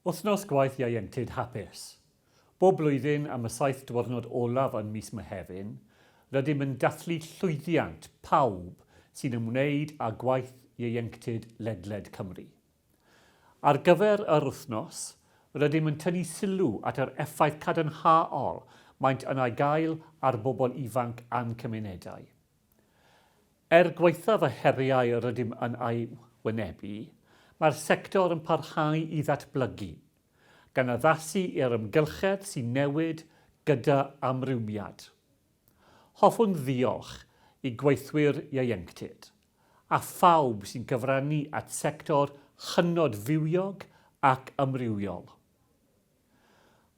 Wythnos gwaith ieuenctid hapus. Bob blwyddyn, am y saith diwrnod olaf yn mis Mehefin, rydym yn dathlu llwyddiant pawb sy'n ymwneud â gwaith ieuenctid ledled Cymru. Ar gyfer yr wythnos, rydym yn tynnu sylw at yr effaith cadarnhaol maent yna gael ar bobl ifanc a'n cymunedau. Er gwaethaf y heriau rydym yn eu hwynebu, mae'r sector yn parhau i ddatblygu, gan addasu i'r amgylchedd sy'n newid gyda amrywiad. Hoffwn ddiolch i gweithwyr ieuenctid, a phawb sy'n cyfrannu at sector hynod fywiog ac amrywiol.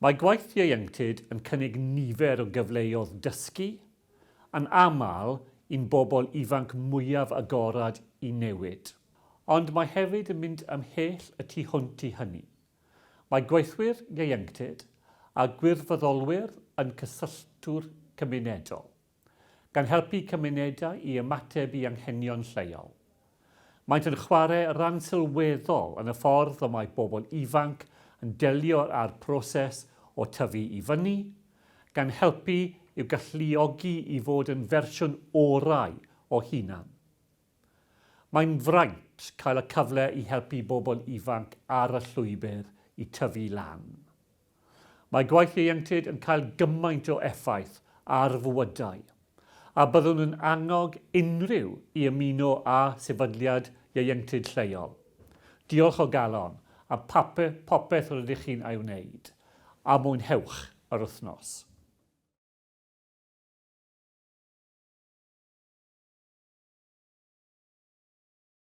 Mae gwaith ieuenctid yn cynnig nifer o gyfleodd dysgu, yn aml i'n bobl ifanc mwyaf agored i newid, ond mae hefyd yn mynd ymhell y tu hwnt i hynny. Mae gweithwyr ieuenctid a gwirfoddolwyr yn cysylltwr cymunedol. gan helpu cymunedau i ymateb i anghenion lleol. Maent yn chwarae rhan sylweddol yn y ffordd y mae bobl ifanc yn delio â'r proses o tyfu i fyny, gan helpu i'w galluogi i fod yn fersiwn orau o hunan. Mae'n fraint cael y cyfle i helpu bobl ifanc ar y llwybr i tyfu lan. Mae gwaith ieuenctid yn cael gymaint o effaith ar fywydau, a byddwn yn annog unrhyw i ymuno â sefydliad ieuenctid lleol. Diolch o galon, a phape popeth rydych chi'n ei wneud, a mwynhewch yr wythnos.